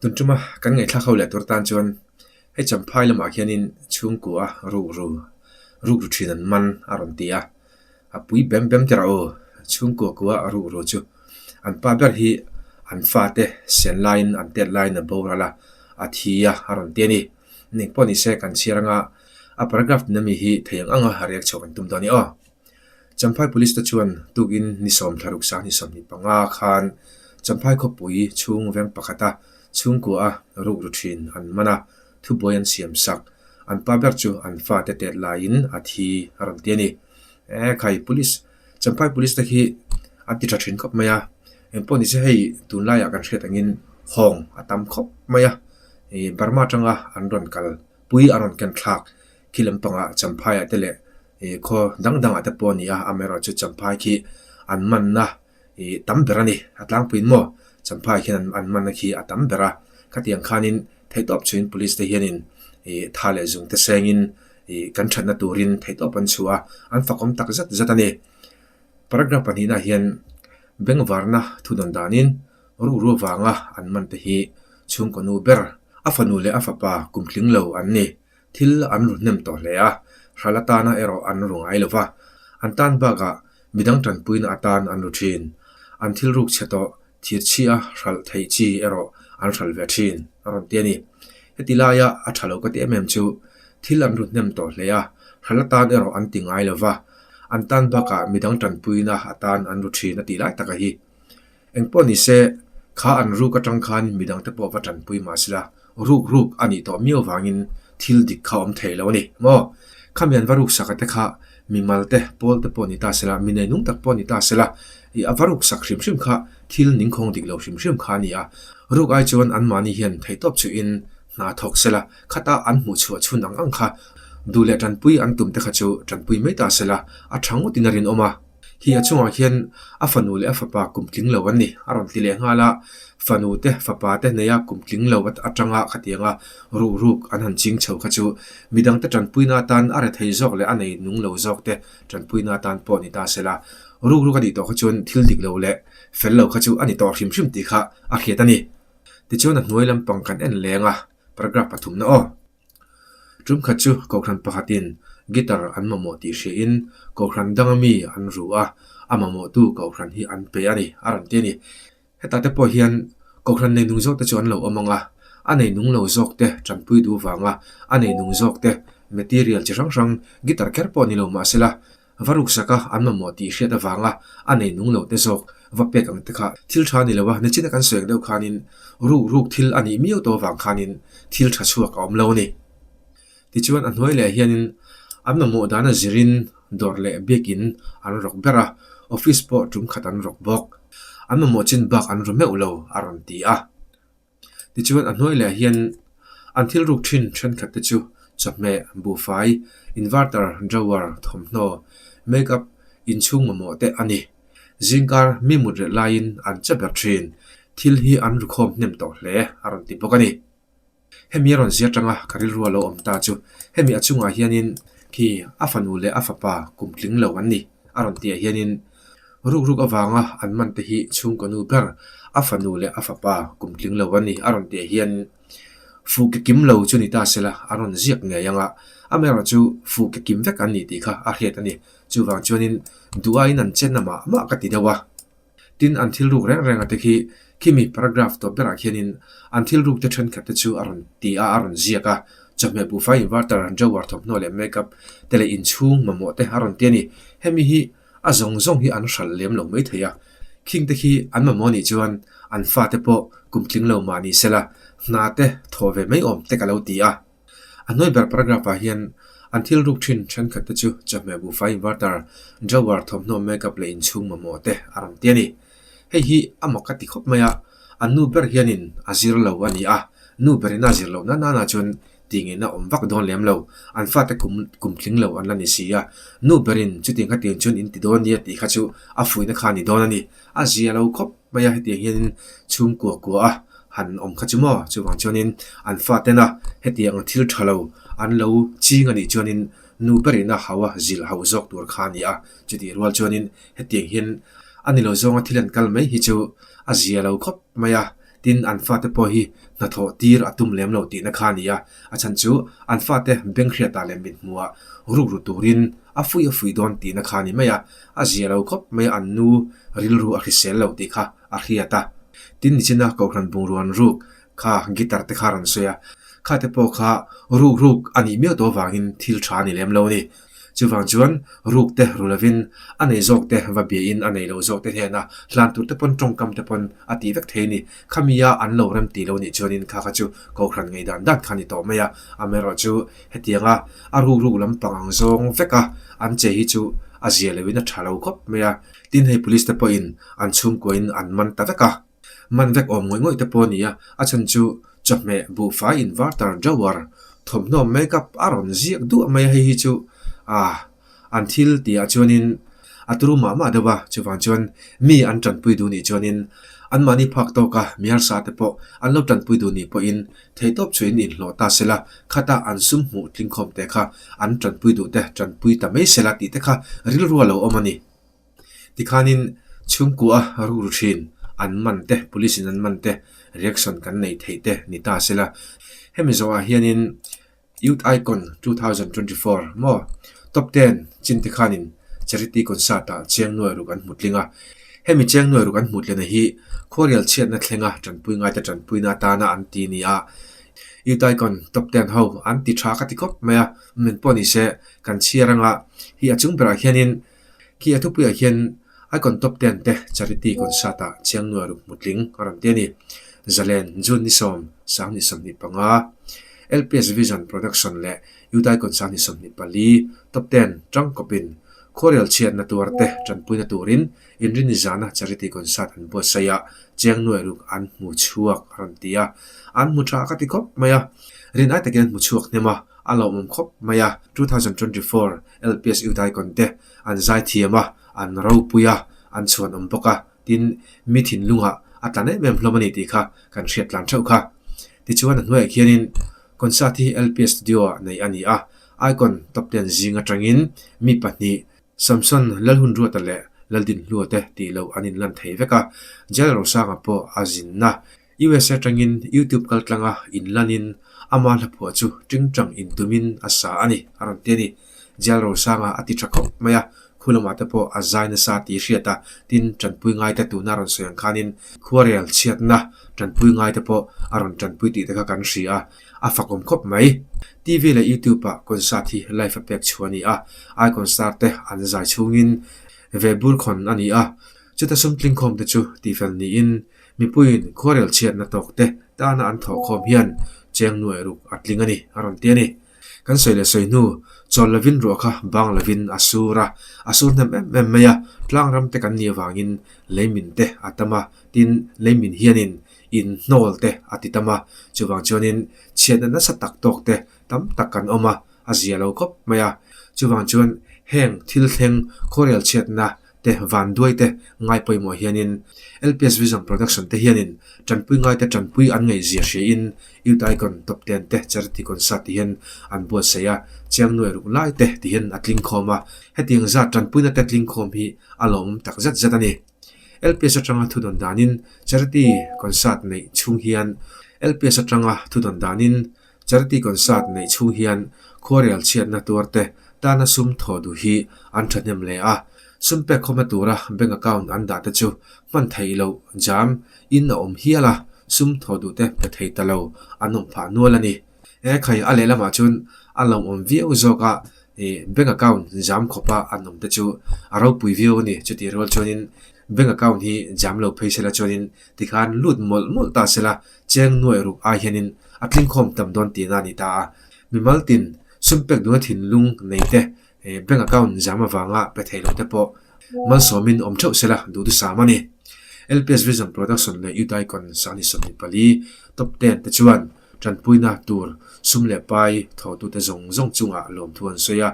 Tun tuma kan ngaihthlak ho leh tur tan chuan hei Champhai lamah khianin chhungkua ruk ru ruk ru thin an man a rawn ti a, a pui bem bem tera aw chhungkua kua ruk ru chu an pa ber hi an fate sian laiin an tet laiin a boral a, a thi a a rawn ti a ni. Eng pawh ni se kan chhiar anga a paragraph tina mi hi thei ang anga riak chhuak an tum dawn ni aw. Champhai police te chuan tukin ni sawm thla ruksa ni sawm ni panga khan Champhai khawpui chhung veng pakhata chhungkua ruk ru thin an man a, thubuai an siam sak. An pa ber chu an fate tet laiin a thi a rawn ti a ni. Ehh khai police, Champhai police te khi an ti tha thin khawp mai a, engpawh ni se hei tunlaiah kan hriat angin hawng a tam khawp mai a, Burma atanga an rawn kalpui an rawn kenthlak khi lampangah Champhaia te leh. Ih khaw dang dangah te pawh a nia a meral chu Champhai khi an manna ih tam ber a ni a tlangpuiin maw Champhai khian an an manna khi a tam ber a khatiang khanin theih tawp chhuin Police te hianin ih tha leh zung te sengin ih kan thatna turin theih tawp an chhu a an fakawm tak zet zet a ni. Paragraph pahnihna hian Bengvarna thudawn danin ruhrua vanga an man te hi chhungkaw nu ber a fanu leh a fapa kum tling lo an ni. Thil an ru hnem tawh hle a, hral atana erawh an ru ngai lo va, an tan bakah midang tanpuina atan an ru thin. An thil ruk chhe tawh, thirchhi a hralh theih chi erawh an hral ve thin a rawn ti a ni. Heti laia a tha lo ka ti em em chu, thil an ru hnem tawh hle a, hral atan erawh an ti ngai lo va, an tan bakah midang tanpuina atan an ru thin a tih lai tak a hi. Engpawh ni se, kha an ruk atang khan midang te pawh va tanpui mah sela, ruk ruk a nih tawh miau vangin thil dik kha awm thei lo a ni maw? Khami an va ruk sak ate kha mimal te, pawl te pawh ni ta sela, mi neinung tak pawh ni ta sela, ih, a va ruk sak hrim hrim kha thil ningkhawng dik lo hrim hrim kha a ni a, ruk ai chuan anmahni hian theitawp chuhin hna thawk sela, khata an hmuh chhuah chhun ang ang kha duh leh tanpui an tum te kha chu tanpui mai ta sela, a tha ngawtin a rinawm a. Khi a chungah khian a fanu leh a fapa kum tling lo an ni. A rawn ti leh nghal a, fanu te fapa te neia kum tling lo atanga khatianga ruh ruk an han ching chho kha chu mi dangte tanpuina atan a re thei zawk leh a nei nung lo zawk te tanpuina atan pawh a ni ta se la, ruk ruk a nih tawh kha chuan thil dik lo leh fel lo kha chu a ni tawh hrim hrim tih kha a hriat a ni. Tichuan a hnuai lampang kan en leng a, paragraph pathumna aw. Tumkhat chu Kohhran pakhatin guitar an mamawh tih hriain Kohhran danga mi an ruh a, a mamawhtu Kohhran hi an pe a ni, a rawn ti a ni. Heta te pawh hian Kohhran nei nung zawk te chu an lo awm ang a, a nei nung lo zawk te tanpuidu vanga a nei nung zawk te material chi hrang hrang guitar kher pawh ni lo mahsela, Va ruksak a, an mamawh tih hriat avanga a nei nung lo te zawk va pek ang te kha thil tha ni lo a, nichin a kan sawi ang deuh khanin ruk ruk thil a nih miau tawh avang khanin thil tha chhuak a awm lo a ni. Tichuan a hnuai leh hianin an mamawh dan a zirin dawr leh bag in an rawk ber a, office pawh tum khat an rawk bawk. An mamawh chin bak an ru meuh lo a rawn ti a. Tichuan a hnuai leh hian an thil ruk thin thenkhat te chu chawhmeh, buhfai, inverter, drawer, thawmhnaw, make up, inchhung mamawh te a ni. Zingkar mi mut reh laiin an che ber thin. Thil hi an rukhawm hnem tawh hle a rawn ti bawk a ni. Hemi a rawn ziah tang a, ka rilrua lo awm ta chu hemi a chungah hianin khi a fanu leh a fapa kum tling lo an ni a rawn tihah hianin, Ruk ruk avanga an man te hi chhung ka nu ber, a fanu leh a fapa kum tling lo a ni a rawn tih hian fuh ka kim lo chu ni ta sela a rawn ziak ngei anga a mera chu fuh ka kim vek an ni tih kha a hriat a ni. Chuvang chuanin duhah in an chenna mah mah ka ti deuh a. Tin an thil ruk reng renga te khi khimi paragraph tawp berah khianin an thil ruk te thenkhat te chu a rawn ti a, a rawn ziak a. Chawhmeh buhfai inverter, drawer thawmhnaw leh makeup te leh inchhung mamawh te a rawn ti a ni. Hemi hi A zawng zawng hi an hralh lem lo mai thei a, khingte khi an mamawh anih chuan an fate pawh kum tling lo mah ni sela hna te thaw ve mai awm te ka lo ti a. A hnuai ber paragraph ah hian an thil ruk thin thenkhat te chu chawhmeh buhfai invartar, drawer, thawmhnaw, makeup leh inchhung mamawh te a rawn ti a ni. Hei hi amah ka ti khawp mai a, a nu ber hianin a zir lo a ni a, nu berin a zir loh nan nan ah chuan tih ngeihna a awm vak dawn lem lo, an fate kum kum tling lo an la ni si a, nu berin chuti kha tin chuan in ti dawn nia tih kha chu a fuihna kha a ni dawn a ni. A zia lo khawp mai a hetiang hianin chhum kuah kuah a han awm kha chu maw chuvang chuanin an fatena hetiang ang thil tha lo an lo ching a nih chuanin nu berin a hau a zilh hau zawk tur kha a ni a, chutih rual chuanin hetiang hian a ni lo zawnga thil an kal mai hi chu a zia lo khawp mai a. Tin, an fate pawh hi hnathawh tir a tum lem lo tihna kha a ni a. A chhan chu, an fate beng hriatah leh mithmuah rukru turin a fuih a fuih dawn tihna kha a ni mai a. A zia lo khawp mai a an nu rilru a hrisel lo tih kha a hriat a. Tin, nichina Kohhran bungrawn ruk kha guitar te kha a rawn sawi a. Khate pawh kha rukruk a nih miau tawh avangin thil tha a ni lem lo a ni. Chuvang chuan rukte ru lovin a nei zawkte va biain a nei lo zawkte hnena hlan turte pawn tawngkamte pawn a ti vek thei a ni. Khamia an lo rem ti lo nih chuanin kha kha chu kohhran ngei dan dan kha a ni tawh mai a. Amerawh chu hetianga a ruk ruk lampang ang zawng veka an che hi chu a zia lovin a tha lo khawp mai a. Tin hei Police te pawhin an chhungkuain an man ta vek a. Man vek awm ngawih ngawih te pawh a ni a, a chhan chu chawhmeh buhfai in var tar drawer, thawmhnaw make up a rawn ziak duah mai a, hei hi chu aah an thil ti ah chuanin a tlu mah mah deuh a, chuvang chuan mi an tanpui duh nih chuanin anmahni phak tawk a hmiarsa te pawh an lo tanpui duh nih pawhin theihtawp chhuahin in hlawh ta sela, khata an sum hmuh tlingkhawm te kha an tanpui duh te tanpui ta mai sela tih te kha rilru a lo awm a ni. Tikhanin chhungkua a rur thin, an man te, police in an man te reaction kan nei theih te ni ta se la, hemi zawhah hianin Youth Icon two thousand twenty four maw, Top ten chin te khanin charity concert ah cheng nuai ruk an hmu tling a, hemi cheng nuai ruk an hmu tlena hi khuarial chhiatna thlenga tanpui ngaite tanpuina atana an ti nia, Youth Icon top ten ho an ti tha ka ti khawp mai a, min pawh nise kan chhiar anga, hei a chung berah hianin Khi a thupuiah khian Icon Top Ten te Charity Concert ah chiang nuaih ruk hmu tling a rawn ti a ni. Zalen, June ni sawm, Sang ni sawmhnih panga, LPS Vision Production leh Youth Icon Sang ni sawmhnih pali, Top Ten, Tang kawpin khuarial chhiatna tuar te tanpuina turin inri ni zana Charity Concert an buatsaih a, chiang nuaih ruk an hmu chhuak a rawn ti a. An hmu tha a ka ti khawp mai a. Rin ai takin an hmu chhuak hnem a, a lawmawm khawp mai a, two thousand twenty four LPS Udaikon te an zai thiam a, an ropui a, an chhuan awm bawk a, tin, mi thinlungah a tlan em em hlawm a ni tih kha kan hriat tlan theuh kha. Tichuan a hnuaiah khianin concert hi LPS Studio ah nei a ni a, Icon Top Ten zing atangin mi pahnih Samson Lalhunruata leh Laldinhlua te tih lo an inlan thei vek a, Jal Rosanga pawh a zinna US atangin YouTube kaltlanga in lanin ama hlaphuah chu tingtang in tumin a sa a ni a rawn ti a ni. Jail Rosanga a ti tha khawp mai a, khu lamah te pawh a zai nasa a tih hriat a, tin tanpui ngaite tuna rawn sawi ang khanin khuarel chhiatna tanpui ngaite pawh a rawn tanpui tih te kha kan hria a, a fakawm khawp mai. TV leh YouTube ah concert hi live a pek chhuah a ni a, ai concert te an zai chhungin ve bur khawn a ni a, chuta sum tlingkhawmte chu tihfel niin Mipuiin khuarel chhiatna tawk te tana an thawh khawm hian cheng nuai ruk a tling a ni, a rawn ti a ni. Kan sawi leh sawi hnu, chawl lovin ruah kha bang lovin a sur a, a sur hnem em em mai a, tlangram te kan nih avangin leimin te a tam a, tin, leimin hianin inhnawl te a ti tam a, chuvang chuanin chhiatna nasa tak tawk te tam tak kan awm a, a zia lo khawp mai a, chuvang chuan heng thil thleng khuarel chhiatna te, Vanduai te, ngai pawimawh hianin LPS Vision Production te hianin Tanpui ngai te tanpui an ngaih zia hriin Youth Icon Top Ten te Charity Concert tihin an buatsaih a, chiang nuaih ruk lai te tihin a tlingkhawm a, hetiang zat tanpuina te tlingkhawm hi a lawmawm tak zet zet a ni. LPS atanga thudawn danin Charity Concert neih chung hian LPS atanga thudawn danin Charity Concert neih chhung hian khuarial chhiatna tuarte tana sum thaw duh hi an thahnem leh a, sum pek khawmna tura bank account an dah te chu hman theih loh jam in a awm hial a, sum thaw duh te pe thei ta lo a nawm phah nual a ni. Hekhaih a lehlamah chuan a lo awm viau zawk a, bank account jam khawpa an awm te chu a ropui viau a ni, chutih rual chuanin bank account hi jam lo phei sela chuanin tikhan lut mawlh mawlh ta sela Cheng nuai ruk ai hianin a tlingkhawm tam dawn tih nga a ni ta a. Mimal tin sunpek duhna thinlung neite bank account zam avanga pe thei loh te pawh malsawmin awm theuh sela duh tu sam a ni. LPS Vision Production leh Udaikon Sahni sawmli pali top ten te chuan tanpuina tur sum leh pai thawhtute zawng zawng chungah lawmthu an sawi a,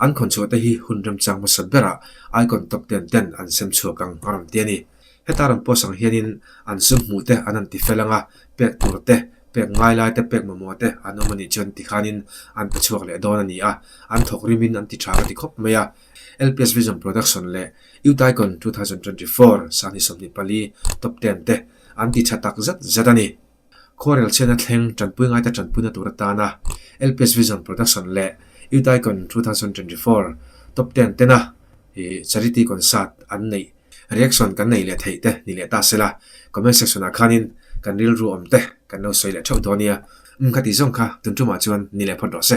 an khawnchhuahte hi hun remchang hmasa berah icon top ten ten an sem chhuak ang a rawn ti a ni. Heta rawn post ang hianin an sum hmuh te an han ti fel ang a, pek tur te, pek ngai lai te, pek mamawh te an awm a nih chuan tikhanin an pe chhuak leh dawn a ni a, an thawk rimin an ti tha ka ti khawp mai a. LPS Vision Production leh Youth Icon two thousand twenty four sangni sawmhnih pali top ten te an ti tha tak zet zet a ni. Khuarel chhiatna thleng tanpui ngaite tanpuina tura tana LPS Vision Production leh Youth Icon two thousand twenty four Top ten tena Charity Concert an neih reaction kan nei leh theih te ni leh ta sela comment section ah khanin kan rilru awm te kan lo sawi leh theuh dawn nia um kha tih zawng kha tun tumah chuan ni leh phawt rawh se.